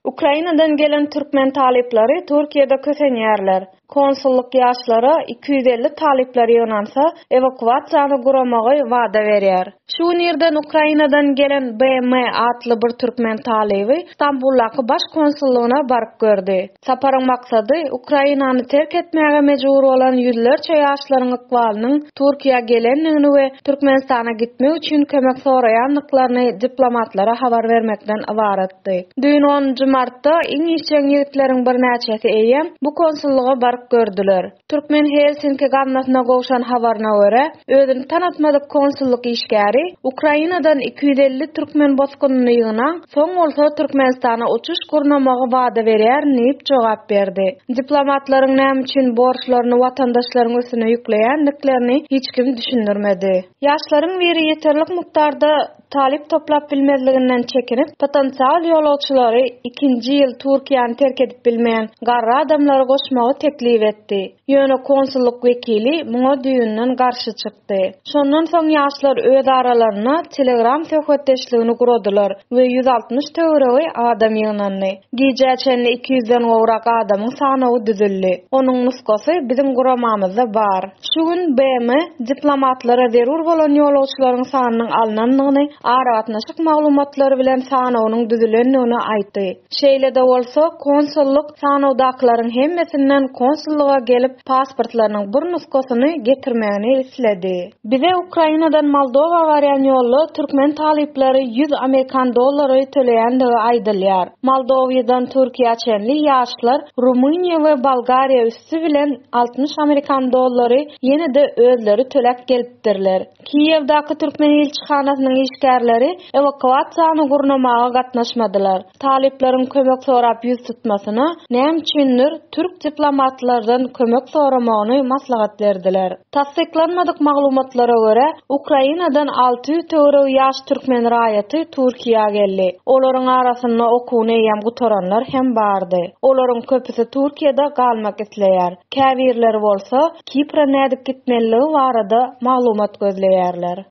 Ukrainadan gelen türkmen talyplary Türkiýede kösenýärler. Konsullyk ýaşlara iki ýüz elli talyplar ýygnansa, ewakuasiýany guramagy wada berýär. Şu gün irden Ukrainadan gelen BM. atly bir türkmen talyby Stambuldaky Baş konsullygyna baryp gördi. Saparyň maksady, Ukrainany terk etmäge mejbur bolan ýüzlerçe ýaşlaryň ykbalynyň Türkiýä gelendigini we Türkmenistana gitmek üçin kömek soraýandyklaryny diplomatlara habar bermekden ybarat. ýatdy. Düýn onunjy martda iň işjeň ýigitleriň birnäçesi eýýäm bu konsullyga baryp gördüler. Türkmen Helsinki gaznasyna gowşan habaryna görä, özüni tanatmadyk konsullyk işgäri Ukrainadan iki ýüz elli türkmen bosgunyny ýygnaň, soň bolsa Türkmenistana uçuş gurnamagy wada berýärin diýip jogap berdi. Diplomatlaryň näme üçin borçlaryny watandaşlaryň üstüne ýükleýändiklerini hiç kim düşündirmedi. Ýaşlaryň biri ýeterlik mukdarda Talyp toplap bilmezliginden çekinip, potensial ýolagçylary ikinji ýyl Türkiýäni terk edip bilmeýän garry adamlary goşmagy teklip etdi. Ýöne konsullyk wekili muňa düýbünden garşy çykdy. Şondan soň ýaşlar öz aralarynda Telegram söhbetdeşligini guradylar we ýüz altmyş töweregi adam ýygnandy. Gijä çenli iki ýüzden gowrak adamyň sanawy düzüldi. Onuň nusgasy biziň guramamyzda bar. Şu gün BM diplomatlara zerur bolan ýolagçylaryň sanynyň alnandygyny, aragatnaşyk maglumatlary bilen sanawynyň düzülendigini aýtdy. Şeýle-de bolsa, konsullyk sanawdakylaryň hemmesinden konsullyga gelip, pasportlarynyň bir nusgasyny getirmegini isledi. Bize Ukrainadan Moldowa barýan ýolda türkmen talyplary ýüz amerikan dollary töleýändigi aýdylýar. Moldowiýadan Türkiýä çenli ýaşlar Rumyniýa we Bolgariýa Şu bilen altmyş amerikan dollary ýene-de özleri töläp gelipdirler. Kiýewdäki türkmen ilçihanasynyň işgärleri ewakuasiýany gurnamaga gatnaşmadylar. Talyplaryň kömek sorap ýüz tutmasyna, näme üçindir, türk diplomatlardan kömek soramagyny maslahat berdiler. Tassyklanmadyk maglumatlara görä, Ukrainadan alty ýüz töweregi ýaş türkmen raýaty Türkiýä geldi. Olaryň arasynda okuwyny eýýäm gutaranlar hem bardy. Olaryň köpüsi Türkiýede galmak isleýär. Käbirleri bolsa, Kipre nädip gitmeliligi barada maglumat gözleýärler.